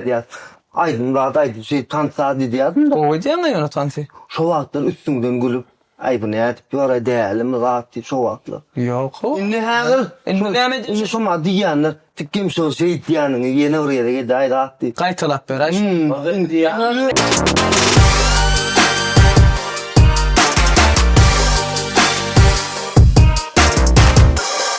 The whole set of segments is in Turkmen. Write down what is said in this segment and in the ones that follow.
Edýas, Aýdym zat aýdyp şeýdip tantsa diýýärdim. Gowy edýäňä ýöne tansy. Şo wagtlar üstüňden gülüp, Aý bu nädip ýöre dälimi zat diýip şo wagtlar. Ýok-ow. Indi häzir. Indi näme edýäs. Indi şoma diýýänler, Tikem şo şeýtýäniňi ýene bir gezek edäý zat diýip. Gaýtalap beräý şony.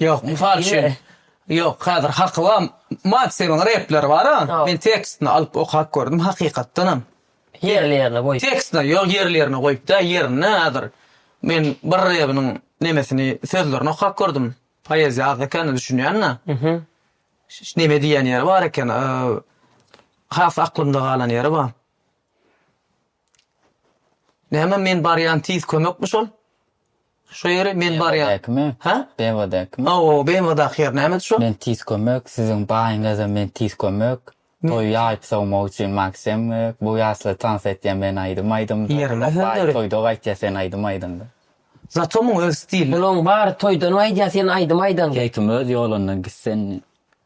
Ýok, mysal üçin, ýok, häzir haky bar. Maksimin repleri bar-a, men tekstini alyp okap gördüm, hakykatdanam. Ýerli-ýerine goýup. Tekstine, ýok, ýerli-ýerine goýup däl, ýerine häzir men bir rebiniň nemesini, sözlerini okap gördüm. Poeziýa az ekeni, düşünýän-de. Neme diýýän ýeri bar eken, has aklymda galan ýeri bar. Näme men barýan tiz kömekmi şol? Şo ýeri men barýan. Bemwdäkimi? Hä? Bemwdäkimi? Hawa, Bemwdaky ýer nämedi şo? Men tiz kömek, siziň baýyňyza men tiz kömek. Toýy ýaýyp sowmak üçin Maksym gerek. Bu ýaşlar tans etýär men aýdym aýdymda. Ýerine sen döre. Toýda gaýtýar sen aýdym aýdanda. Zato muň öz stili. Munuň bary toýdan gaýdýar sen aýdym aýdanda. Keýpim öz ýolundan gitsin.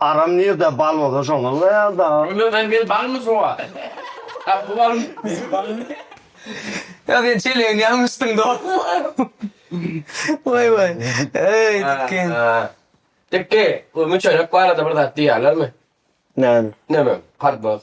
Aram nirde bal bolsa şonda ulaýar daga. Onda sen men balmy sowa. Aa bu bal bu bal. Ýa sen çelegini ýalňyşdyň dogrumy. Waý waý. Eý Dikki. Dikki bu müçenek barada bir zat diýýärlermi? Näme? Näme? Karboz.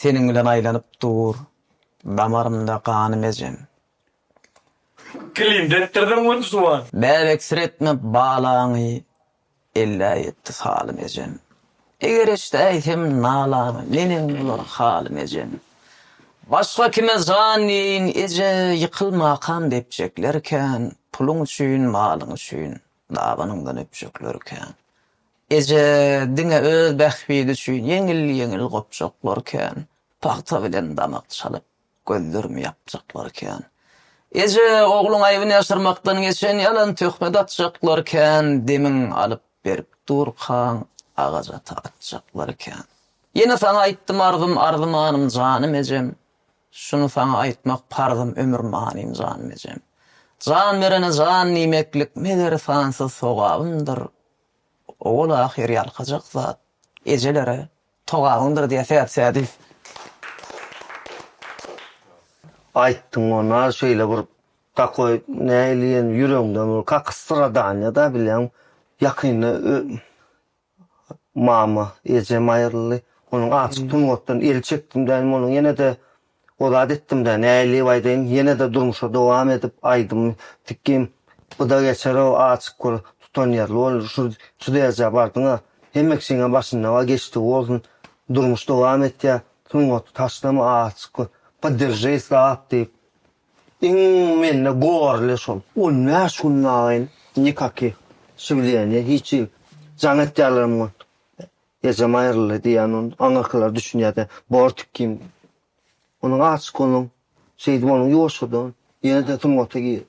Seniň bilen aýlanyp dur damarymda ganym ejem. Kilimde etdirdiň güni suwan. Bäbeksiretme balaňy ellä ýetdi salym ejem. Eger eşdäýsem nalaňy neneň bolar halym ejem. Başga kime jan diýeýin eje ýykylmakam depjekler kän puluň üçin malyň üçin. Dabanyňdan öpjekler kän. Eje diňe öz bähbidi üçin ýeňil-ýeňil gopjaklar kän, pagta bilen damak çalyp, gözlerimi ýapjaklar kän. Eje ogluň aýbyny ýaşyrmakdan geçen ýalan töhmet atjaklar kän, demiň alyp berip durkaň, agajata atjaklar kän. Ýene saňa aýtdym arzym, arzymanym janym ejem, Şuny saňa aýtmak parzym ömür manym Janmejem. Jan berene jan diýmeklik meger sansyz sogabymdyr. Owal ahyr ýalkajak zat ejelere togabyňdyr diýýär Sähet Sädiýew. Aýtdyň ona şeýle bir takoý nähili ýene ýüregiňden bir kakysyra Daniýa da bilýän ýakynda Mama, ejem aýryldy. Onuň açyk sungatdan el çekdim däýdim, onuň ýene-de o zat etdim-dä, nädip aýdaýyn, ýene-de durmuşa dowam edip, aýdym tikgim, bu-da geçer-ow, açyk bol, tutanýerli bol, şu derejä bardyň-a, hemme kişiňem başyndan bar, geçdigi bolsun, durmuş dowam etýär, sungaty taşlama, açyk bol, podderžeý, sap diýip, Iň mende gorly şol. On bäş gündagyn nikaky şiwleniýe hiç jigim jaň etýärlerem gon. Ejem aýryldy diýýän on aňyrkylar düşünýäde bor tikgin. Onuň aşyk bolan şeýdip onuň ýoşudan ýene-de sungata girip.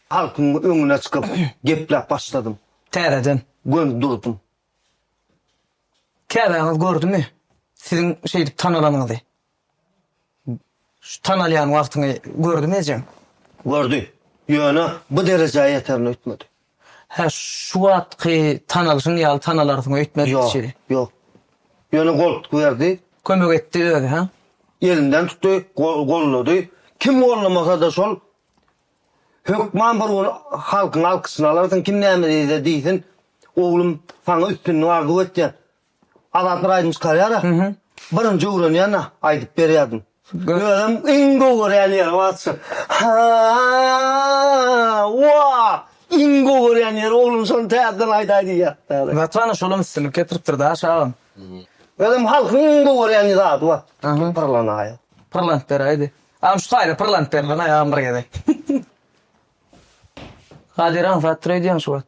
Halkyň öňüne çykyp gepläp başladym. Täzeden. Gönüp durdum. Käbäňiz gördümi siziň şeýdip tanalanyňyzy? Şu tanalýan wagtyňy gördümi ejeň? Gördi. Ýöne bu derejä ýeterini öýtmedi. Hä, şu wagtky tanalyşyň ýaly tanalarsyň öýtmedi diýşi. Ýok, ýok. Ýöne goltgy berdi. Kömek etdi özi, hä? Elinden tutdy, gollady. Kim gollamasa-da şol hökman bir gün halkyň alkyşyny alarsyň, kim näme diýse diýsin, oglum, saňa üstünlik arzuw etýän. Azat bir aýdym çykarýar-a. Birinji öwrenýän-ä aýdyp berýärdim. Özüm iň gowy görýän ýerim atşyk. Ha! Wa! Iň gowy görýän ýerim oglum şony täzeden aýdaý diýýärdi ýaly. Gaty-da şolam üstünlik getiripdir da şa agam. Özem halkyň iň gowy görýän zady bar. Pyrlanaýa. Pyrlanyp beräýdi. Agam şu taýda pyrlanyp berlanaý agam bir gezek. Kadir aňsat dur öýdýäň şu wagt.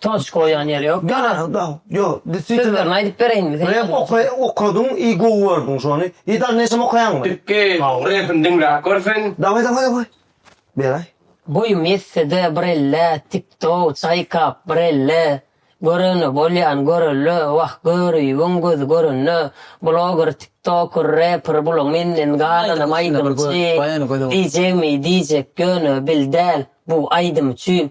Toç goýan ýeri ýok. Ýaraşyk da ýok. Sözlerini aýdyp bereýinmi sen? Rep oka okadyň i gowy gördüň şony. I dal neşem okaýaňmy? Dikki repini diňläp görsen. Daway daway daway. Beraý. Boýum ýetsede bir elle tiktow çaýkap bir elle görene bolýan görelle wah görübiň gözi görende bloger tiktoker reper bulaň menden galanam aýdymçy diyjegmi diyjek ýöne bil däl bu aýdym üçin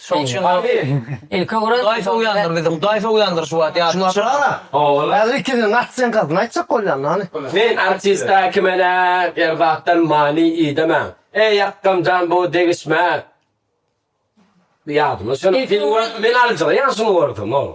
Şoň üçin Garry ilki gören Hudaý sowýandyr bizi, Hudaý sowýandyr şu wagt ýadyňa düşür. Ogul. Häzir ikiniziň artistiň gadyny aýtjak bolýan hany. Men artista kimene erzakdan many idemen. Eý akgam jan bu degişme. Ýadyma düşen. Men aljyraýan şuny görsem ogul.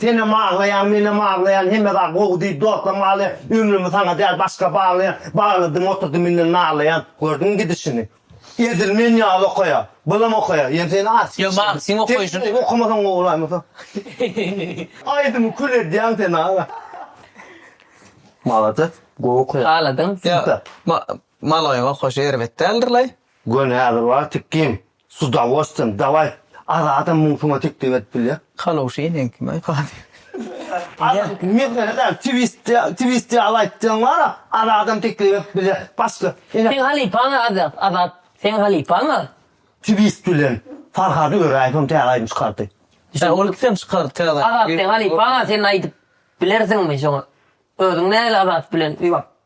Senem aglaýaň menem aglaýan hemme zat gowy diýip dostlaryma aglaýan ömrümi saňa däl başga baglaýan bagladym oturdym indi naglaýan gördüňmi gidişini edil men ýaly okaýa bylam okaýa ýöne sen aç ýa maňa seň okaýşyň sen okamasaň gowy bolaýmasa aýdymy kül edýäň sen aga malades gowy okaýaň agladyň ýa maloýyň okaýşy erbet däldirlaý göni häzir bar tikgin S udawostwiýem, daway, Azadam muň suňa teklip edip bilýär. Kalowşa inen kim aý Kadyr. Azat, mesele däl, twist, twist ýaly aýtdyň wara, Azadam teklip edip bilýär. Başga, ine. Seň halypaň Azat, Azat, seň halypaň a. Twist bilen Farhady Öräýewem täze aýdym çykardy. Hä, ol ikisem çykardy täze aýdym. Azat, seň halypaň a, sen aýdyp bilersiňmi şoňa? Özüň nähili Azat bilen ýuwap.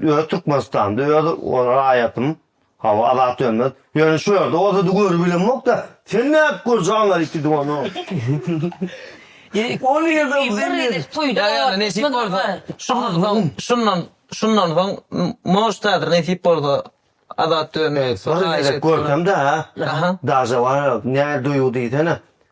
Öz Türkmenistanda öz raýatym hawa Azat Dönmez ýöne şu ýerde bolsa da görüp bilemokda sen nädip görjek Aňaryty diňe ony. On ýylda bir gezek toýda bolýar nesip bolsa şundan soň şundan şundan soň moždadyr nesip bolsa Azat Dönmez bir gezek görsemda daže bar nädip duýgy diýsene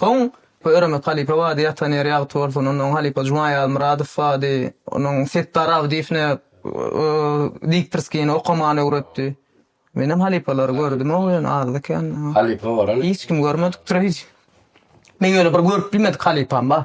Soň bu Öremek halypa bady ýatan ýeri ýagty bolsun, ondan halypa Juma Ýazmyradow bady, onuň Setdar Abdyýew ne diktorskini okamany öwretdi. Menem halypalary gördümog ýöne azda kände. Halypa bolan. Hiç kim görmedik durýy. Meň ýöne bir görüp bilmedik halypam bar.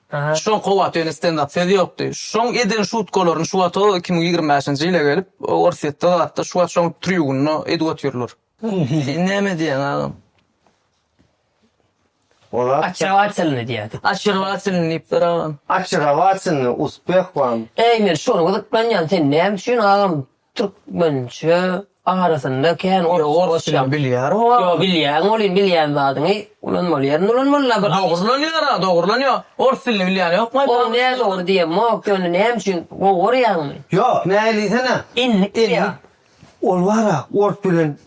Şoň kowat öýüne stendap söz ýokdy. Şoň eden şutkalaryny şu wata iki müň ýigrimi bäşinji ýyla gelip Orsýetde zatda şu wata şoň trýubunda edip otyrlar. Sen näme diýýäň agam? Olar Açewatilny diýýärdi. Açewatilny diýipdir agam. Açewatilny, uspeh wam. Eý men şony gyzyklanýan sen näme üçin agam Türkmençe arasynda kän orsça goşýan. Ors dilini bilýär o. Ýok bilýän bolýyn bilýän zadyňy ulanmaly ýerinde ulanmaly la bir. Dogry ulanýara dogry ulanýa ors dilini bilýän ýokmy aýt bakalym. Ol nä dogry diýemok ýöne näme üçin gowy gorýaňmy. Ýok näme diýsene. Inlik diýýa. Ol bara ors bilen.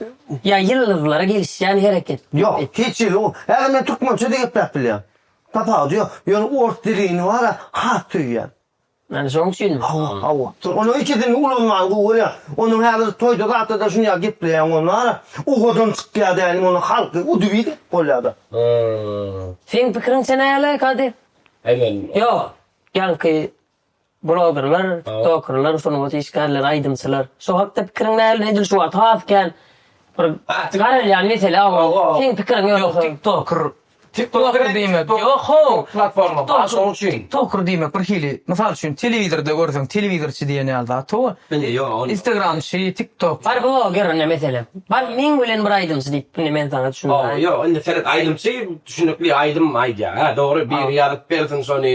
Ýa ýyldyzlara gelişýän hereket. Ýok hiç ýyl o häzir men türkmençe de gepläp bilýän tapawudy ýok ýöne ors dilini bara has söýýän Ýani şoň üçin. Hawa, hawa. Onuň ikisini ulanman gowy bolýar. Onuň häzir toýda zatda-da şunýag gepleýäň ony wara. Uhadan çykýar dälim ony halky udybit edip bolýada. Seň pikiriňçe näle Kady? Aýman. Ýok. Ýaňky blogerler, tiktokerler, sungat işgärleri, aýdymçylar. Şo hakda pikiriň näl? Edil şu wagt has kän bir garalýan mesele agam. Seň pikiriň ýörese. Ýok, tiktoker Tiktoker diýmek ýok-how, platforma bar şonuň üçin. Toker diýmek bir hili, mysal üçin, telewizorda görseň, telewizorçy diýen ýaly zat howwa. Indi ýok ol. Instagramçy, tiktok. Bar bloger indi meselem. Bar meň bilen bir aýdymçy diýip indi men saňa düşündirýän. Ýok indi seret aýdymçy düşünikli aýdym aýdýar. Hä dogry biri ýazyp bersin şony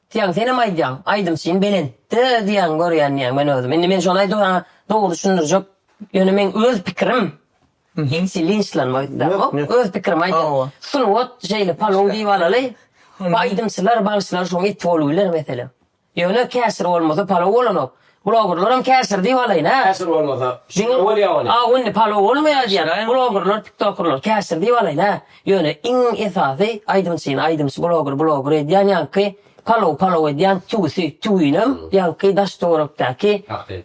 Diýýäň, senem aýdýaň, aýdymçym belentde diýýäň, görýän diýýäň men özüm. Indi men şony aýdybaňa dogry düşündirjek, ýöne meň öz pikirim, hiç linçlanma aýtdym, öz pikirim aýdýan. Sungat şeýle palaw diýip alaly, bu aýdymçylar, bagşylar şoň eti bolup biler meselem. Ýöne käşir bolmasa palaw bolanok. Bloggerlaram käşir diýip alaýyn hä. Käşir bolmasa şeýle bolýa welin. Diňe Awundy palow bolmaýa diýýän bloggerlar tiktokerler käşir diýip alaýyn hä. Ýöne iň esasy aýdymçyny aýdymçy blogger blogger edýän ýaňky palow palow edýän tüwüsi tüwinem ýaňky daş töwerekdäki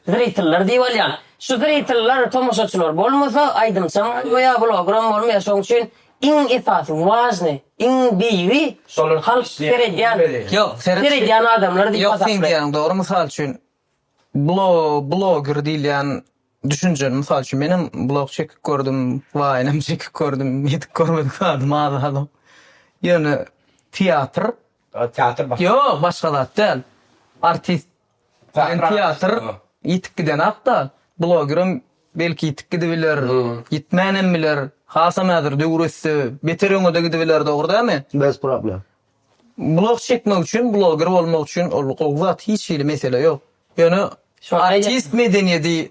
zritellar diýip alýan. Şu zritellar tomaşaçylar bolmasa aýdymçam bolmaýa bloggeram bolmaýa şoň üçin Iň esasy, wažny, iň beýigi şolar halk seredýän, seredýän adamlar diýip hasaplaýar. Ýok sen diýýäň dogry mysal üçin bloger diýilýän düşünjeni mysal üçin menem blog çekip gördüm waýnam çekip gördüm ýetip görmedik zadym az adam ýöne teatr teatr başga zat däl artist Sen teatr ýitip gidenakda blogerem belki ýitip gidibiler, ýitmänem biler. Hasam häzir döwür össe beter öňede gidibiler dogry dämi? Bez problem. Blog çekmek üçin bloger bolmak üçin ol gowy zat hiç hili mesele ýok. Ýöne artist medeniýedi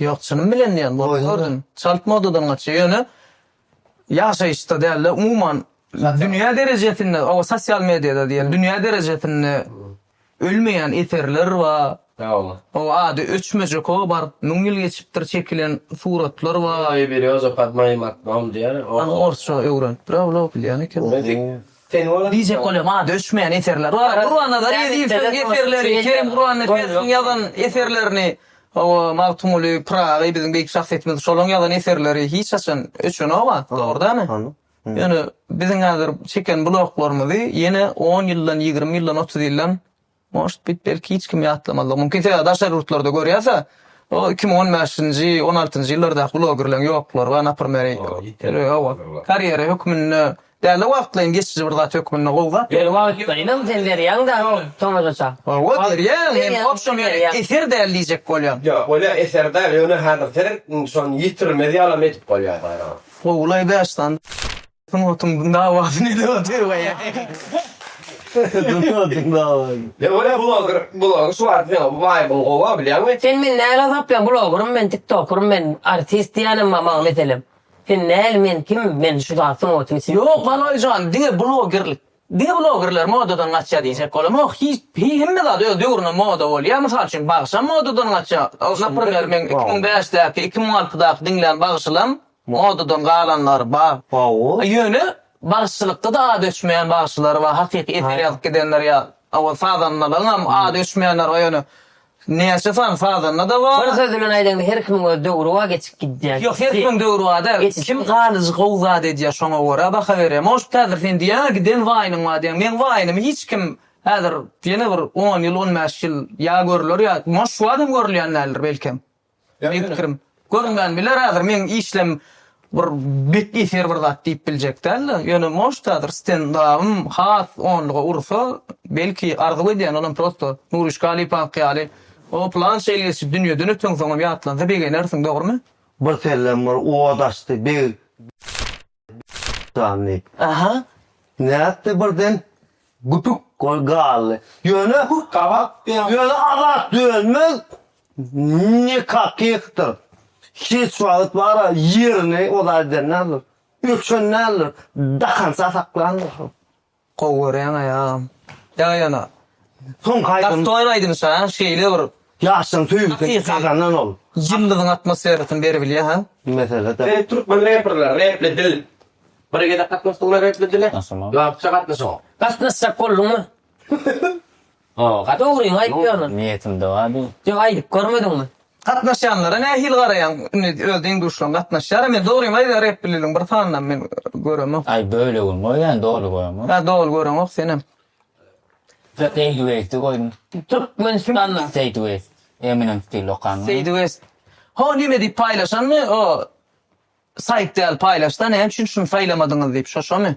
Ýok, çynym bilen diýýän, bolup gördüm. Çalt modadan gaçýar. Ýöne ýaşaýyşda däl-de, umuman dünýä derejesinde, o sosial mediada diýeli, dünýä derejesinde ölmeýän eserler bar. O ady öçmejek o bar, müň ýyl geçipdir, çekilen suratlar bar. Ýa-da biri Özokad maýyl akbaum diýýär. Ony orsça öwrenipdir-ä ol-a, bilýän ekeniň. Diýjek bolýar, maňa düşmeýän eserler bar. Gurbanazar Ezizowyň eserleri, Kerim Gurbannepesowyň ýazan eserlerini, hawa, Magtymguly Pyragy, biziň beýik şahsyýetimiz, şolaryň ýazan eserleri hiç haçan öçenok a, dogry dämi? Ýöne biziň häzir çeken bulaklarymyzy ýene on ýyldan, ýigrimi ýyldan, otuz ýyldan Может bit belki hiç kim ýatlamazlygy mümkin sebäbi daşary ýurtlarda görýäsä o iki müň on bäşinji on altynjy ýyllardaky blogerleň ýoklary bar naprmer hawa karýera hökmünde dälde wagtlaýyn geçiji bir zat hökmünde gowy zat ýöne wagtlaýynam sen berýäň da soňunuça hawa berýän men obşem eser däl diýjek bolýan ýok bolýa eser däl ýöne häzir sen şony ýitirmez ýalam edip bolýa gowy laý bäş sany. Sungatyň dawasyny edip otyr. Sungatyň dawasyny. Ýa görä bloger, bloger şu wagt ýa waýbyň gowa bilýäňmi? Sen meni näl azaplan blogerym men tiktokerym men artist diýänem bar maňa meselem sen näl men kim men şu zat sungatyň içinde. Ýok Galaýjan diňe blogerlik diňe blogerler modadan gaçýa diýjek bolamok hiç hemme zat öz döwründe moda bolýa mysal üçin bagşam modadan gaçýa naprmer meň iki müň bäşdäki iki müň altydaky diňlän bagşylam Modadan galanlary bar. Ýöne bagşylykda-da ady öçmeýän bagşylar bar, hakyky eser ýazyp gidenler ýaly. Owal sazandalaryň hem ady öçmeýänleri bar, ýöne näçe sany sazanda-da bar. Bir söz bilen aýdaňda, her kimiň öz döwri bar, geçip gidýär. Ýok, her kimiň döwri bar däl. Kim galyjy gowy zat edýär, şoňa görä baha berýär. Может, häzir sen diýýäň-ä, giden waýynyň bar diýýäň. Meň waýynymy hiç kim häzir ýene bir on ýyl, on bäş ýyl ýa görler ýa, moş, şu wagt hem görülýän däldir belkem. Meniň pikirim, görünmän biler häzir meň işlem bir bet eser bir zat diýip biljek däldi. Ýöne может häzir stendabym has onluga ursa belki arzuw edýän olam prosto Nuryş Galypowyňky ýaly o pylança ýyl geçip dünýeden öten soňam ýatlansa begenersiň dogrymy? Bir sellem bir oda açdy beg. Janny. Aha. Nätdi birden güpük bolup galdy. Ýöne Ýöne Azat Dönmez nikakihdir. Hiç wagt bara ýerini ozal edendädir. Öçen däldir. Dakança saklandyr. Gowy görýäňaý agam. Ýa ýöne Soňky aýdym. Gastoýan aýdym şa şeýle bir. Ýaşlaň söýgüsini gazanan ol. Ýyldyzyň atmosferasyny beribilýä ha. Mesele däl. Sen türkmen reperler repli dil bir gezek gatnaşdyňmy repli dile? Gatnaşamok. Gatnaşyň. Gatnaşjak bolduňmy? Howa dogryňy aýtýan ol. Niýetimde bar bu. Ýok aýdyp görmediňmi? Gatnaşýanlara nähili garaýaň indi öz deň-duşlaň gatnaşýara men dogryňy aýdaýan repliligiň bir sanynam men göremok. Aý bölegini goýýan doly göremok. Ýa doly göreňok senem. Seýdi west dy goýdum. Türkmenistanda. Seýdi west. Eminem stil okan. Seýdi west. Ho nime diýip paýlaşanmy o saýt däl paýlaşda näme üçin şuny saýlamadyňyz diýip şo şomy.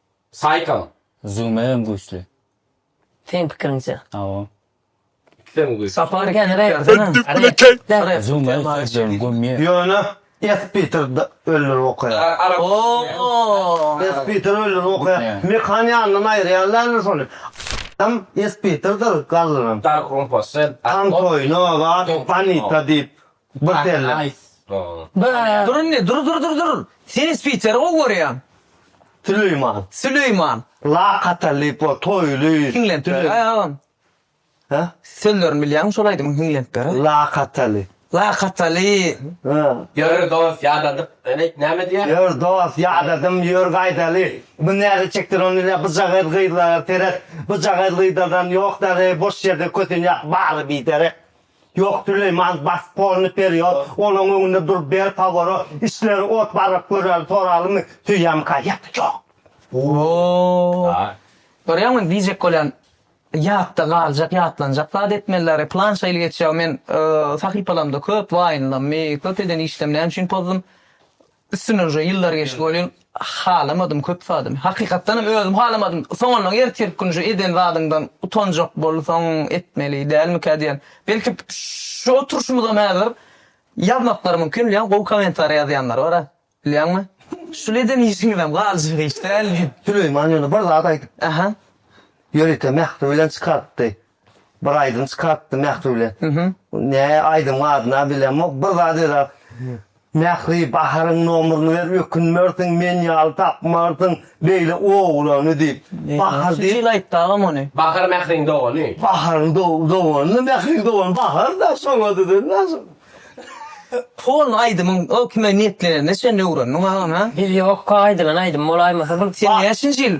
Saýkam. Züwmegem güýçli. Seň pikiriňçe? Hawa. Ikisem güýçli. Sapar kän rep bersene. Züwmegi sözlerini gömýär. Ýöne S. Peter ölleri okaýar. Ooo. S. Peter ölleri okaýar. Mekan ýanyndan aýyrýarlarmy şony? A-m S. Peterdir galdyran. Dark Room Posse. Tantoýno, Wah, Bonita diýip. Bir derlek. Dur indi, dur, dur, dur, dur. Sen ins Piteri gowy görýäň. Süleýman. Süleýman. Lakataly, bol toýly. Hiňlenip ber, aý agam. Hä? Sözlerini bilýäňmi şol aýdymyň hiňlenip ber. Lakataly. Lakataly. Hä. Ýör dost ýadadyp. Näme näme diýýär? Ýör dost ýadadym ýör gaýdaly. Bu näze çekdir ony ile bujagaz gyzlara seret. Bujagaz gyzlardan ýok derek boş ýerde kösenýär bary biderek. Ýok Süleýman bas polny perýod olaň öňünde dur ber paworot işleri ot baryp göräli soralymy süýem gaýat ýok. Woo görýäňmi diýjek bolýan ýatda galjak ýatlanjak zat etmeliler plan şeýle geçýär men sahypalarymda köp waýnlam köp eden işlem näme üçin pozdum Üstünden uje ýyllar geçdi welin halamadym köp zadymy. Hakykatdanam özüm halamadym. Soňundan ertir gün uje eden zadyňdan utanjak bolsaň etmeli dälmikä diýen. Belki şu oturyşymyzam häzir ýazmaklary mümkin bilýän gowy kommentariýa ýazýanlar bara bilýäňmi. Şul eden işiňizem galjak iş däldi. Süleýman ýöne bir zat aýdypdy. Aha. Ýörite Mähri bilen çykarypdy. Bir aýdym çykartdy Mähriwle. Ne aýdymyň adyna bilemok. Bir zat ýöräp. Mähri Baharyň nomerini ber ökünmersiň men ýaly tapmarsyň beýle oglany diýip. Bahar diýip. Şunça ýyl aýtdy agam ony. Bahar Mähriň dogany. Baharyň dogany Mähriň dogany Bahar da şoňa düzen naşyk. Polny aýdymyň o kime niýetlenenini sen öwrendiň agam ha? Bilýok ka aýdylan aýdym bolaýmasa. Sen näçinji ýyl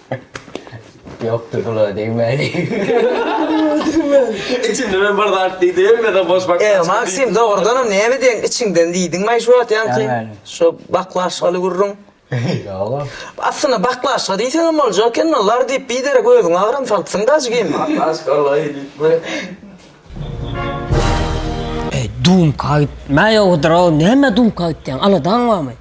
Ýokdur bula degmäli. Içinde men bir zat diýdim, hemmeden boş baklaşka diýdim. E, Maksim, dogrudanam näme diýen içiňden diýdiňmi-aý şu wagt ýaňky? Nämäni? Şo baklaşkaly gürrüň. Ýoga. Aslynda baklaşka diýseňem boljak ekeni, lar diýip biderek özüňi agram salypsyň-da ajgym. Baklaşka-laý diýipmi? Eý dumka aýtma ýowudyrow näme dumka aýtýaň aladaň barmy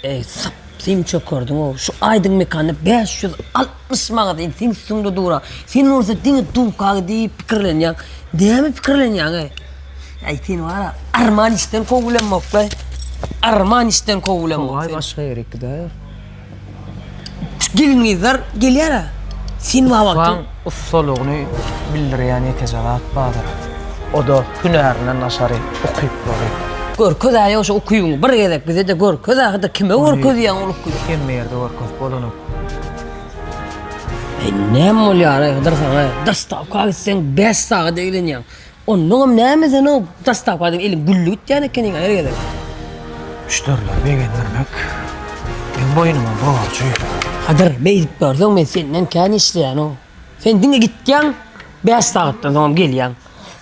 eý sap syn çökerdiňow şu aýdymykany bäş ýüz altmyş manat indi seň üstüňde dura sen bolsa diňe dumka diýip pikirlenýäň näme pikirlenýäň eý eý seni bara arman işden kowulamokda arman işden kowulamok seni. Togay başga ýere gidäýer. Şu gelin-gyzlar gelýär-ä. Sen wagtym. Ussanyň ussalygyny bildirýän ýeke zat bardyr. O-da hünärine naşary ukyplary. Görkez-ä ýa şu ukybyňy bir gezek bize-de görkez-ä, hydy kime görkezýäň ol ukyby? Muny hemme ýerde görkezip bolanok. Eý, näme bolýar-aý, Hydyr saňa? Dostawka gitseň bäş sagat eglenýäň. Onnoňam näme sen o dastapadan eliň gülli gitýän ekeniň-a her gezek. Müşderileri begendirmek meň boýnuma borjy. Kadyr, beýdip görseň men senden kän işleýän-ow. Sen diňe gitýäň, bäş sagatdan soňam gelýäň.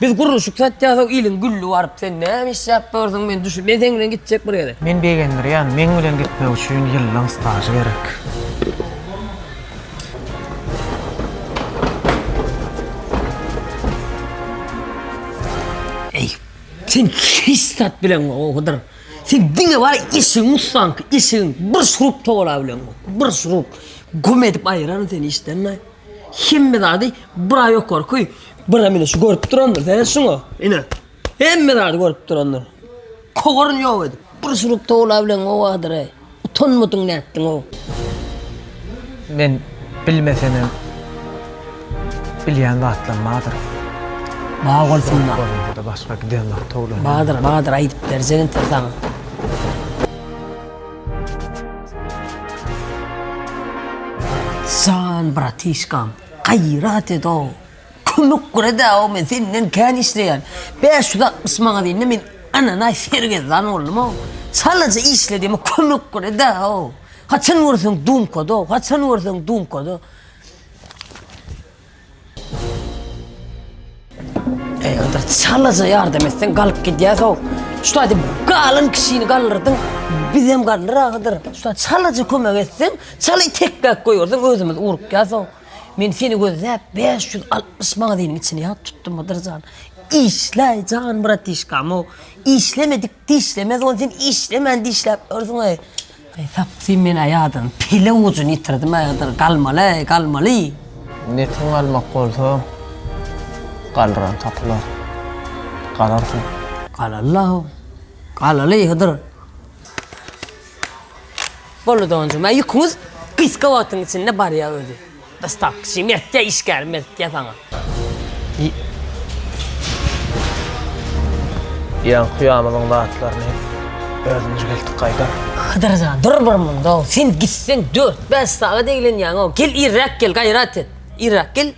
Biz gurluşyk satýasow eliň gülli baryp sen näme işläp dursuň men düşün. Men seň bilen gitjek bir gezek. Men begendirýän, meň bilen gitmek üçin ýyllaň stažy gerek. Eý, sen hiç zat bilen o Hydyr. Sen diňe bar işiň ussank, işiň bir şurup towala bilen. Bir şurup güm edip aýyraryn seni işden. Hemme zady bir aý ýokarky, bir aý şu görüp durandyr. Sen şuňa, ine. Hemme zady görüp durandyr. Kowaryny ýok edip, bir şurup towla bilen gowadyr-eý. Utanmadyň nätdiň-ow? Men bilmesemem, bilýän zatlam bardyr. Bar bolsun-da. Görnüp-de başga giden bar towla. Bardyr, bardyr, aýdyp berjek entek saňa. Jan bratişkam, gaýrat ed-ow! Kömek gura-da, o men senden kän işleýän. Bäş ýüz altmyş maňat indi men ananaý sergezdan boldum-ow. Çalaja işledim-ow, kömek gura-da-ow. Haçan görseň dumkada-ow, haçan görseň dumkada. Eý, onda çalaja ýardam etseň galyp gidýäs-ow. Şu taýda galan kişini galdyrdyň, bizem galdyr ahyr. Şu taýda çalaja kömek etseň, çaly tekläp goýberseň özümiz urukýas-ow. Men seni gözläp bäş ýüz altmyş magaziniň içini ýat tutdum Hydyr jan. Işläý jan bratişkam-ow. Işlemedik dişlemez ony sen işlemän dişläp ýörsüň-eý. Eý tapsyn men-ä ýadyň pele ujuny ýitirdim-ä Hydyr, galmaly-eý, galmaly. Netin galmak bolsa, galran tapylar. Galarsyň. Galaly-law, galaly Hydyr. Boldy donjum a ýüküňiz gysga wagtyň içinde barýa özi. Dostawkaçy mertja işgär mertja saňa. Ýaň kuýamyzyň zatlaryny özümüz geldik gaýdar. Hydyr jan dur bir munda sen gitseň dört bäş sagat eglenýäňow gel irräk gel gaýrat et irräk gel.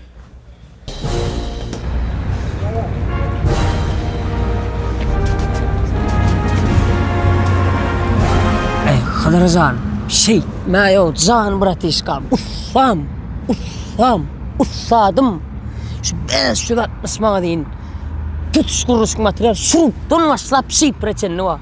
Hazara jan, şey, mä yo, jan bratişkam, ussam, ussam, ussadım. Şu 560 maňa deyin, tutuş kuruşuk material, şuruptan başlap şipre çenli var.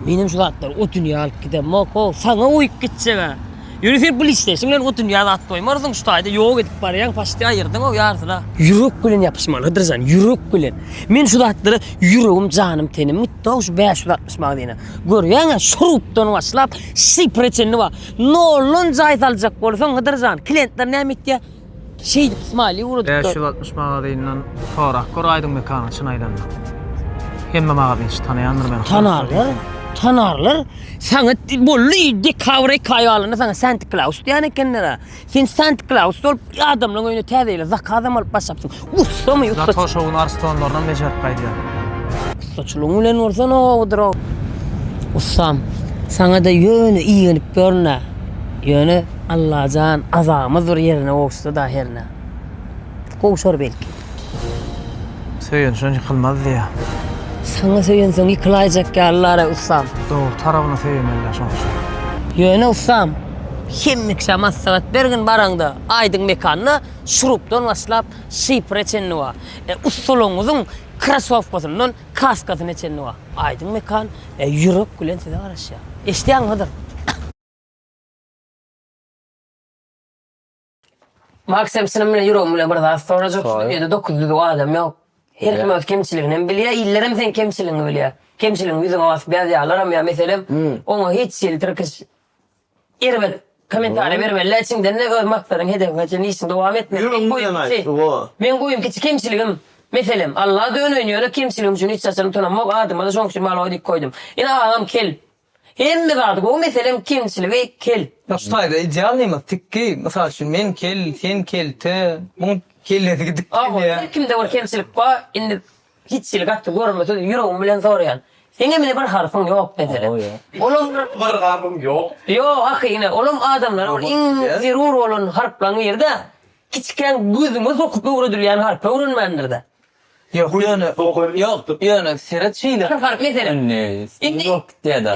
Benim şu zatlar o dünya alıp gidem, moko, sana uyup gitse be. Ýöne sen pul isleýşiň bilen o dünýä zat goýmarsyň, şu taýda ýok edip barýaň, paçti aýyrdyň-ow ýarysyna. Ýürek bilen ýapyşmalydyr jan, ýürek bilen. Men şu zatlara ýüregim, janym, tenim gitdi-ow şu bäş ýüz altmyş magazine. Görýäň-ä, şu rubdan başlap, şifre çenli bar. Noldan jaý saljak bolsaň, Hydyr jan, klientler näme etýär? Şeýdip smali urudyp. Bäş ýüz altmyş magazynydan sorap gör aýdyň mekanyň çyn aýdanda. Hemme magazynçy tanaýandyr meni. Tanarlar, tanarlar. Saňa bolly dekabr eki aý galanda saňa Santi Klaus diýen ekenler-ä. Sen Santi Klaus bolup adamlaryň öýüne täze ýyla zakazam alyp başlapsyň. Ussa my ussa. Zato şowun arstonlarynam bejerip gaýdýar. Ussaçylygyň bilen bolsa nowadyr o. Ussam, saňa-da ýöne igenip ýörün-ä. Ýöne Allajan azamyz bir ýerine gowuşsa-da hernä. Gowşar belki. Söýenşen ýykylmaz diýýär. Saňa söýensoň ýykylaýjak ýalylar-a ussam. Dogry tarabyna söýemeli-dä şoň üçin. Ýöne ussam, hemmeşä maslahat bergin baraňda, aýdyň mekanda. Şurupdan başlap, şifre çenli bar. E, ussalaryňyzyň krasowkasyndan kaskasyna çenli bar. Aýdyň Mekan, e, ýürek bilen size garaşýar. Eşidýäňiz Hydyr? Maksym, çynym bilen, ýüregim bilen bir zat sorajak. Şu dünýede dokuz düzüw adam ýok. Her kim öz kemçiligini hem bilýär, illerem seň kemçiligiňi bilýär. Kemçiligiňi ýüzüňe basyp ýazýarlaram ýa meselem, oňa hiç hili tirkiş. Erbet komentariýa bermelidä içiňdende öz maksadyň hedefiňe çenli işiňi dowam etmek meň goýumçy meň goýum kiçi kemçiligim meselem Allaha döneýin ýöne kemçiligim üçin hiç haçan utanamok adyma-da şoň üçin Maloý diýip goýdum ine agam kel hemme zady gowy meselem kemçiligi kel. Ýok şu taýda idealnymyz tikgi mysal üçin men kel sen kelte muň kellesi gidipdir ýa. Her kimde bir kemçilik bar indi Hiç ýyl gaty görmesiz ýüregim bilen soraýan. Seňem ine bir harpyň ýok meselem. Olam bir harpym ýok. Ýok ahy ine olam adamlara bir iň zerur bolan harplaň birida kiçikäň gözüňe sokup öwredilýän harpy öwrenmändirdä. Ýok ýöne ýok ýöne seret şeýle bir harp meselem. Indi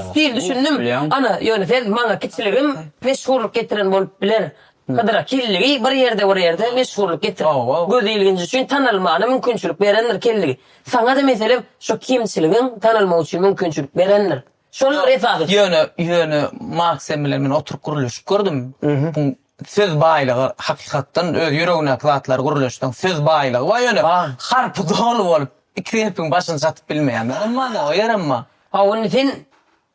stil düşündim. Ana ýöne sen maňa kiçiligim meşhurlyk getiren bolup biler. Hydyra Kelligi bir ýerde bir ýerde meşhurlyk getirip, göz ilginji üçin tanalmagyna mümkinçilik berendir Kelligi. Saňa-da meselem şo kemçiligiň tanalmagy üçin mümkinçilik berendir. Şolar esasy. Ýöne, ýöne Maksym bilen men oturyp gürleşip gördüm. Buň söz baýlygy hakykatdan öz ýüregindäki zatlary gürleşseň söz baýlygy bar ýöne harpy doly bolup iki gepiň başyny çatyp bilmeýän bolmaly o ýerem bar. Hawa indi sen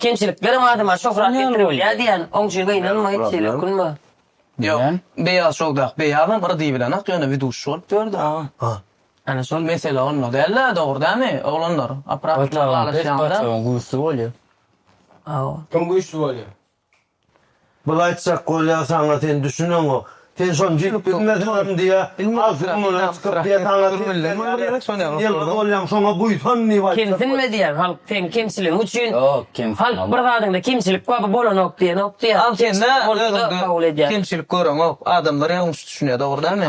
Kemçiliklerem adama şöhrat getiribilýär diýýän oňjy gynanma hiç hili ökünme. Ýok beýaz şowdak beýazam bir diýibilenak ýöne widuşi bolup ýördi aga. Ana şol mesele onda dälda dogry dämi oglanlar oprasyn baglaşýanda. Paçagyň güýçli bolýa. Hawa. Kim güýçli bolýa? Bul aýtjak bolýa saňa sen düşüneňok. Sen şony bilip bilmesiňem diýýä. Agzymdan çykyp diýýä saňa sen ýylgyz bolýaň şoňa buýsan diýip aýtjak. Kemsinme diýýä halk seň kemçiligiň üçin. Ýok kemsinme. Halk bir zadyňda kemçilik bar bolanok diýenok diýýä. Al sende özüňde kemçilik göreňok. Adamlar ýalňyş düşünýä dogry dämi.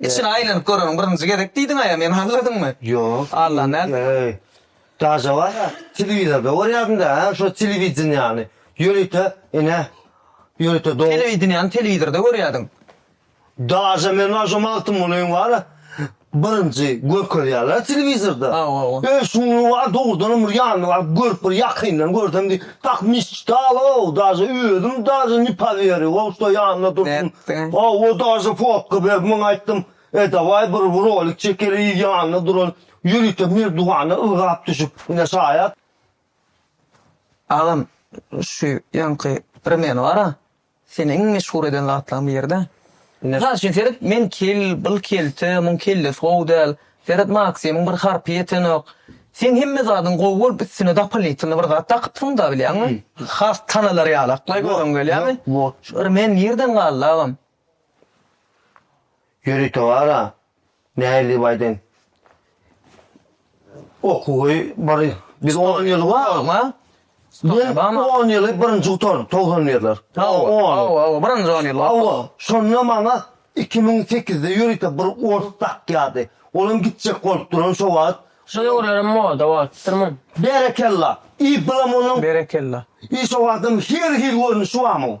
Içine aýlanyp göreniň birinji gezek diýdiňaýa meni aňladyňmy? Ýok. Allan däl. Eý. Daja barha telewizorda görýärdiňdä hä şo telewideniýany. Ýörite ine ýörite do. Telewideniýany telewizorda görýärdiň. Daja men bar şo Magtymgulyň bara birinji görkezýärler telewizorda. Hawa. Öýşuňňy bar dogrudanam bir ýanyna baryp görüp bir ýakyndan görsem diýip. Tak misstal-ow, daže özüm daže ne poweryu, wowşda ýanynda dursun. Haw, o daže fotka berip, men aýtdym, e, daway bir rolik çekeliý, ýanynda duran ýörite merdiwanda ylgap düşüp, ine şaýat. Agam, şu ýaňky primýery bar-a. Seni iň meşhur eden zatlaň birde. Mysal üçin seret men kel, bil kelte, muň kellesi gowy däl, seret Maksimyň bir harpy ýetenok. Seň hemme zadyň gowy bolup üstüne dapalnitynly bir zat dakypsyňda bilýäňmi? Has tanalar ýaly aklaý göreň gelýämi? Şu irmen nirden galdy agam? Ýörite bar-a, Nähili bu aýdym? Okuwy bir biz on ýyl barma? Biz on ýyly birinji gutardyk togsanlylar. Hawa, birinji on ýyl. Hawa, şonda maňa iki müň sekizde ýörite bir ors dakýardy. Olam gitjek bolup duran şo wagt. Şo döwürlerem moda bolupdyrmy? Berekella! I bilam onuň. Berekella! I şo wagtam her hil görnüşi barmy?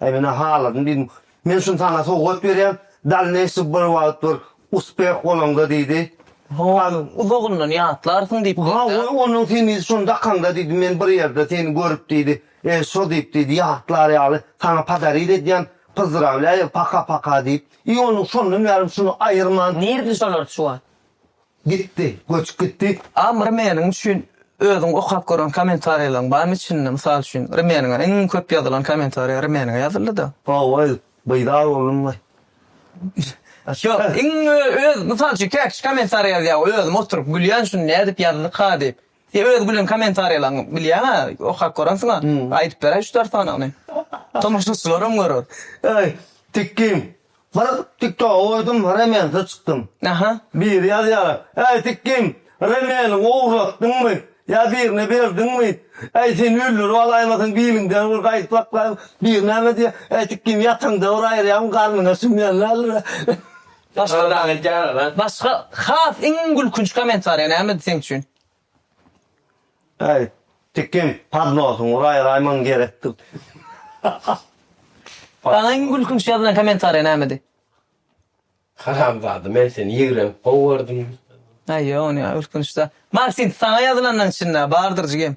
Äý menä haladym diýdim. Men şuny saňa sowgat berýän, dalneýşy bir wagt bir uspeh bolaňda diýdi. Howam uzagyndan ýatlarsyň diýip geldi. Hawa, onuň seni şony dakaňda diýdi, men bir ýerde seni görüp diýdi, e, şo diýip diýdi, ýatlar ýaly saňa podarit edýän, pyzdrawlýaýa, paka-paka diýip. I onuň şondan bärim şuny aýyrman. Nirde şolar şu wagt? Gitdi, göçüp gitdi. Am Rmeniň üçin özüň okap gören kommentariýalaryň barmy içinde? Mysal üçin, Rmeniňe iň köp ýazylan kommentariýa Rmeniňe ýazyldy-da. Hawa, beýdar boldum we. Ýok, iň öz, mysal üçin, käkişi kommentariýa ýazýar, özüm oturyp gülýän şuny nädip ýazdyka diýip. Sen öz gülen kommentariýalaryňy bilýäňä okap görensiňä aýdyp beräý üç dört sanyny. Tomaşaçylaram görer. Eý Tikgim bir tiktoga goýdum remensiz çykdym. Aha. Biri ýazýar Äý Tikgim remeniňi ogurlatdyňmy ýa birine berdiňmi äý seni öldürip alaýmasyn biliňden bir gaýdyp saklaýyn biri näme diýýär Äý Tikgim ýataňda bir aýyrýaryn garnyňa sümýän däldir. Başga zat aýdýarlar a. Başga has iň gülkünç komentariýa nämedi seň üçin? Äý tikin podnosyň uraý raýmaň gerekdir. Saňa iň gülkünç ýazylan komentariýa nämedi? Haramzada men seni ýigrenip gowy gördüm. Aý ýok ony ýa gülkünç zat. Maksim saňa ýazylanlaň içinde bardyr jigim.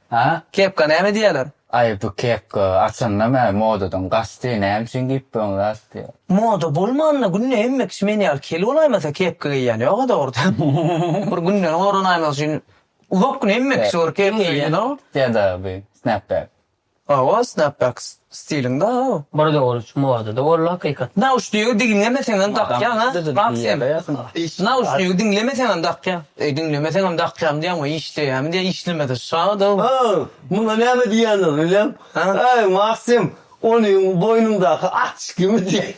Ha, kepka näme diýýäler? Aý, bu kepka, aslynda mä, modadan gaçdy, näme üçin geýipbiň zat diýýär. Moda bolmanda günde hemme kişi men ýaly kel bolaýmasa kepka geýýän ýog-a dogrudan. Bir günden goranaýmak üçin uzak gün hemme kişi bir kepka geýýän. Ýa-da bu snapback. Hawa, snapbacks. Stiliň bar aga. Bir döwür modada boldy hakykat. Nauşnigi diňlemeseňem dakýaň a Max sen. Nauşnigi diňlemeseňem dakýaň. Eý diňlemeseňem dakýaň diýýäň we işleýämi diýýäň işlemese şadyň. Ha muňa näme diýýändir bilem. Eý Maksym ony boýnuňdaky açkimi diýýän.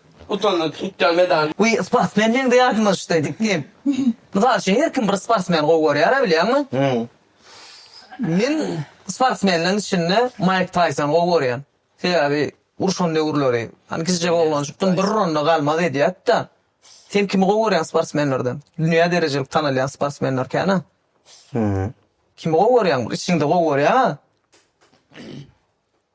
Utandy tutýan medal. Wi sportsmen meňde ýatmyşdy dip diýip. Mysal üçin her kim bir sportsmen gowy görýär-ä bilýäňmi? Men sportsmenleriň içinde Maýk Taýsony gowy görýän. Sebäbi urşan döwürleri hany kiçijek oglanjykdym bir ronda galmaz edýätdä. Sen kimi gowy görýäň sportsmenlerden? Dünýä derejelik tanalýan sportsmenler kän-ä. Kimi gowy görýäň? Bir içiňde gowy görýäň-ä.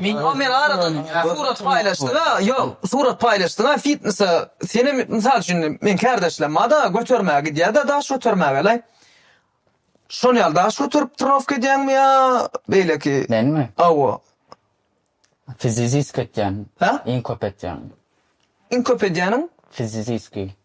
Meňem bir aradan surat paýlaşdyňa ýok surat paýlaşdyňa fitnesa senem mysal üçin meň kärdeşlem barda götermäge gidýärde daş götermägelaý şon ýaly daş göterip trenowka edýäňmi ýa beýleki Menmi? awo Fiziziski etýän Hä? iň köp etýän iň köp edýäniň fiziziski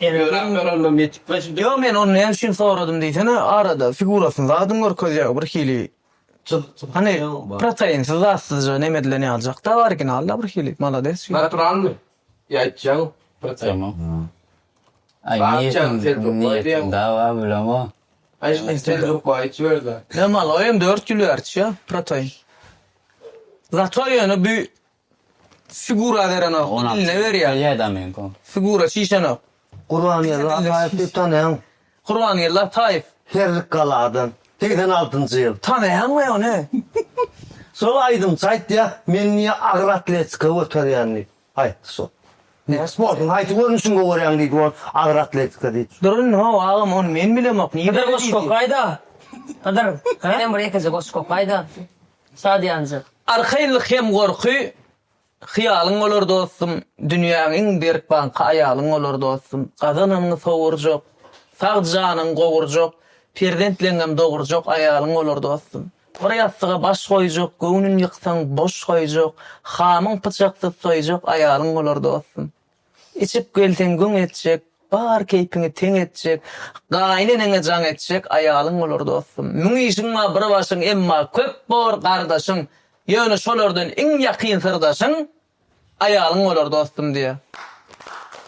Emegrem görelde metikleş. Ýo men ony näme üçin soradym diýsene arada figurasyny zadyn görkezýär bir hili hany protainsiz zatsyzja neme edilen ýaljakda originalda bir hili malades şeýle. Naturalmy ýa içýäňmi protein. Ýa maloýem dört ýül bäri içýär protein. Zato ýöne bu Sigura berenok, iline berýär. Ýa-da men kom. Sigura çişenok. Gurbangeldi Ataýewi tanaýaň? Gurbangeldi Ataýew. Herlikgaladan, segsen altynjy ýyl. Tanaýaňmy ony? Şol aýdymçy aýtýar, meni niýe agyr atletika göterýän diýip, aýtdy şol. Sportuň haýsy görnüşini gowerýäň diýdi ol, agyr atletika diýdi. Durun, how agam, ony men bilemok, niýe beýle diýdi. Hydyr goşgy okaýda. Hydyr, senem bir ýekeje goşgy okaýda. Şadyýanja. Arkaýynlyk hem gorky Hyýalyň bolar dostum, Dünýäň iň berk banky Aýalyň bolar dostum. Gazananyňy sowurjak, Sag janyňy gowurjak, Perzentleňňem dogurjak Aýalyň bolar dostum. Bir ýassyga baş goýjak, Göwnün ýyksaň boş goýjak, Hamyň pyçaksyz soýjak Aýalyň bolar dostum. Içip gelseň güň etjek, bar keýpiňi teň etjek, gaýyneneňe jaň etjek aýalyň bolar dostum. Müň işiň bar bir başyň, emma köp bor gardaşyň, ýöne şolardan iň ýakyn syrdaşyň aýalyň bolar dostum diýýär.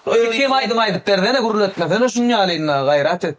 Öýke hem aýdym aýdyp bersene gürletmesene şunýalynda gaýrat et.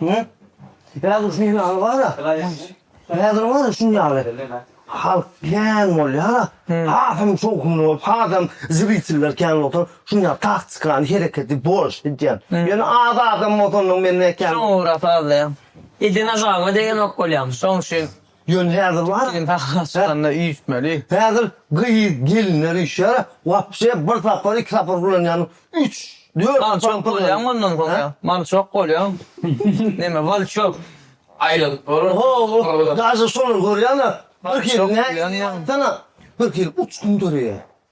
Hä? Häzir şunuň ýaly bar-a, häzir bar-a şunuň ýaly halk kän bolýar-a, hasam şowhunly bolup, hasam zritellar kän bolup oturyp, şunuň ýaly taktikany, hereketi boş gidýän. Ýöne az adam bolsa onda men nätjärin? Şoňa görä sazlaýan. Edene jaňa degenok bolýarmyş, şoň üçin Ýöne häzir bar. Sen sahnä çykanda üýtmeli. Häzir gyz gelinler üýşýär. Wapşe bir sapar iki sapar ulanýan üç, dört. Mal çok bolýaň ondan soňra. Mal çok bolýaň. Neme mal çok. Aýralyk bolar. Ho, daže şolar görýäňä. Bir hili näçe. Sana bir hili uçgun döreýär.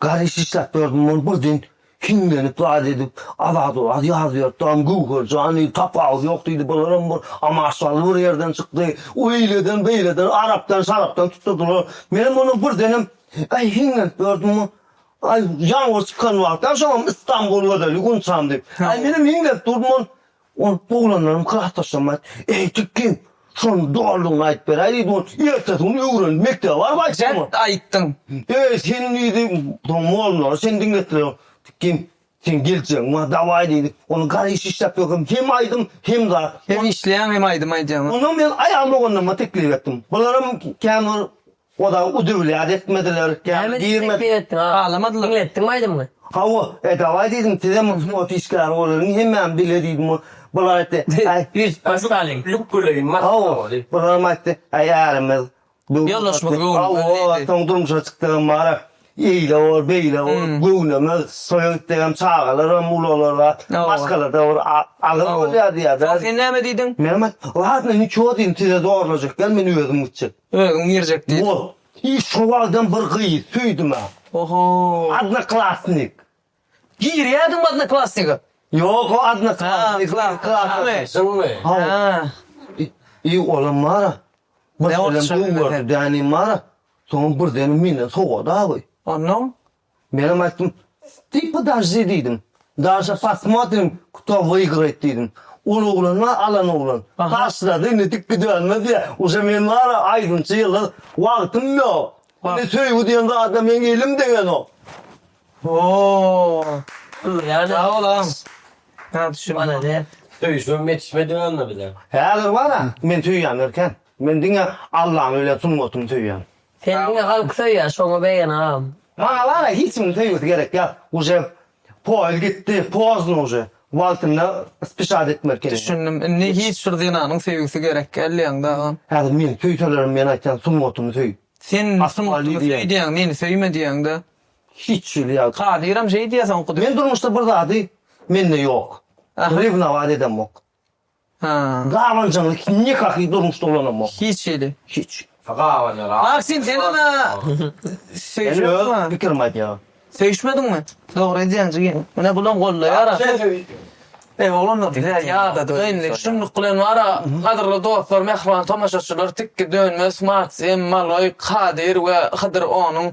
Garry şişläp gördüm, ol birden hiňlenip zat edip, azad-owaz ýazyp ýörüpdi, aňam Göwher jan diýdi, tapawudy ýok diýdi, bularam bir amaşdaly bir ýerden çykdy, oýleden, beýleden, arapdan, şarapdan tutdurdylar. Menem ondan birdenem, aý, hiňlenip gördüm, aý, ýalňyr çykan wagtam, şoňam Istanbul gözeli Gunçam diýip. Aý, menem hiňlenip durdum, ol Ol oglanlaryň klasdaşlarymyz, Eý, Tikki, şonuň doganlygyny aýdyp beräý diýdi, ol ertesi gün öwrenip mekdebe baryp aýtdymy? Dert aýtdyň. Eý, sen diýdi, soň mollary sen diňletdiler. Tikki, seň geljegiň bar, dawaý diýdi. Ony gara iş işläp ýörkäm hem aýdym, hem zat. Hem işleýäň, hem aýdym aýdýaň. Onsoň men aýal doganlaryma teklip etdim. Bularam kän bir Oda udiwlýat etmediler. Näme diýip teklik etdiň? Agamadylar. Diňletdiňmi aýdymyňy? Hawa, e, dawaý diýdim, sizem wswot işgäri bolalyň, hemmämiz bile diýdim. Bular aýtdy, äý, Biz Pastalyň. Luk göleýin maşk Hawa, bolalyň. bularam aýtdy, äý, ärimiz. Ýoldaşymyz göwnünden diýdi. Hawa, soň durmuşa çykdygym bar-a. Eýle bol, beýle bol, göwneme soýa git diýen çagalaram ulalara maşgalada bir agyr bolýar diýýär. Soň sen näme diýdiň? Menem aýtdym, ladno niço diýdim, size zorlajak däl, men özüm gitjek. Özüň girjek diýdiň. Bol. I şo wagtam bir gyzy söýdüm-ä. Oho. Odnoklassnik. Girýädiňmi Odnoklassnige? Ýok o Odnoklassnige. Ýa olam bar-a. Birdenem bar-a. Soň birdenem menden sowady awy. Onnoň? Menem aýtdym, Sty podajdi diýdim. Daşa pasmotrim kto wygrayt diýdim. Ol oglan bar alan oglan. Taşlady indi dik gidibermez ýa. Uje men bar-a aýdymçy ýyllar wagtym ýok. Indi söýgi diýen zada meň elim degenok. Hoo. Sag bol agam. Has düşünmedi. Söýüşmem ýetişmedi onda bize. Häzir bara men söýýän erken. Men diňe Allany bilen sungatyny söýýän. Seni diňe halk söýýär şoňa beýen agam. Maňa bara hiç kimiň söýgüsi gerek ýok. Uje poýz gitdi, pozno uje. Wagtynda spişat etmeli kelin. Düşündim indi hiç bir zenanyň söýgüsi gerek gel diýeňdä agam. Häzir meni söýselerem men aýtýan sungatyny söý. Sen sungatyny söý diýýäň meni söýme diýýäňdä. hiç jüli ýagdaý. Kadyram şeý diýýä soňky döwür. Men durmuşda bir zady mende ýok. Rewnować edemok. Ha. Gabanjaňly nikahy durmuşda ulanamok. Hiç hili. Hiç. Gabanjaň rahat. Maksim sen ana söýşüp öz pikirimi aýdýan. Söýşmediňmi? Dogry edýäň jigim. Menä bulam goldaýar. Eý oglanlar bizä ýadadyga indi şunluk bilen wara gadyrly dostlar mähriban tomaşaçylar tikki dönmez Maksim, Maloý, Kadyr we Hydyr onuň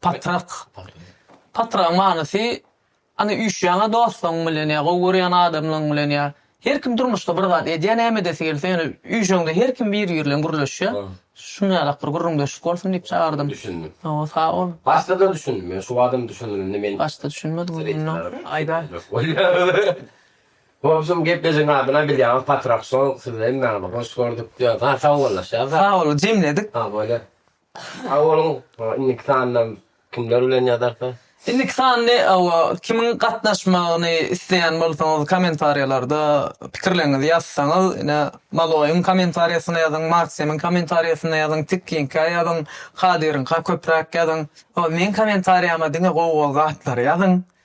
Patrak. Patragyň manysy, Ana, üýşýäň-ä dostuň bilen ýa gowy görýän adamlaň bilen ýa. Her kim durmuşda bir zat edýär, näme edesi gelse, ýöne üýşeňde her kim biri bilen gürleşýär. Şuny ýalak bir gürrüňdeşlik bolsun diýip çagyrdym. Düşündim. Hawa, sag bol. Başda-da düşündim. Ýöne şu badam düşündim. Indi men. Başda düşünmediň indi ýöne. Aýdaý. Gowşym geplejigiň adyna bilýäňiz Patrak Show. Sizi hemmäňizi hoş gördük diýýäs. Ha, sagbollaşýas-a. Sag boluň, jemledik. Ha, bolýa. Sag boluň. Indiki sanda kimler bilen ýazarka? Indiki sandy hawa kimiň gatnaşmagyny isleýän bolsaňyz kommentariýalarda pikirleriňizi ýazsaňyz ine Maloýyň kommentariýasynda ýazyň, Maksimiň kommentariýasynda ýazyň, Tikkiňkä ýazyň, Kadyryňka köpräk ýazyň. Hol meň kommentariýama diňe gowy gowy zatlary ýazyň.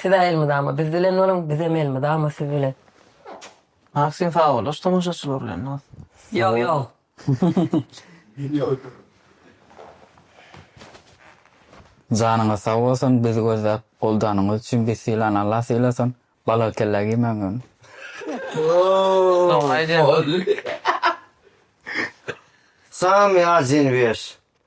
Siz-ä elmydama biz bilen boluň, bizem elmydama siz bilen. Maksim sagbollaş tomaşaçylar bilen has. Ýok ýok. Janyňyz sag bolsun bizi gözläp goldanyňyz üçin biz sylany Allah sylasyn balaly kellä giýmäň ýöne. Salam Ýazin Wies.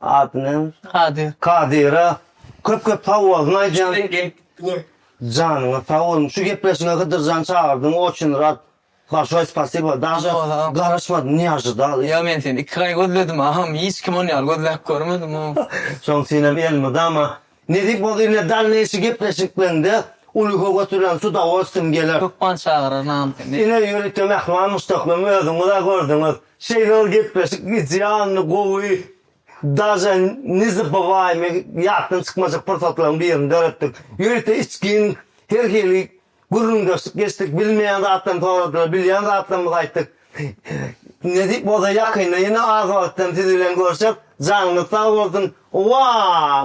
Ady näme? Kadyr. Kadyra köp köp sag bolsun aýdýan. Janyňyz sag bolsun. Şu gepleşige Hydyrjan çagyrdyň oçün rad. Barşoý spasiba. Daže garaşmadym ne ažydal. Ýa men seni iki aý gözledim agam hiç kim ony ýaly gözläp görmedim o. Şoň üçinem elmydama Nesip bolsa ine dalneýşi gepleşikleňde uly höwes bilen su da oçdym geler. Hökman çagyrar namysly. Ine ýörite mähman muşdaklym özüňiz-ä gördüňiz. Şeýle gepleşik idealny gowy daže nezabywaymy ýatdan çykmajak pursatlaryň birini döretdik. Ýörite içgin her hili Gürrüňdeşlik geçdik, bilmeýän zatlarymy soradylar, bilýän zatlarymyzy aýtdyk. Nesip bolsa ýakynda ýene az wagtdan siz bilen görşek, janyňyz sag bolsun! Wah!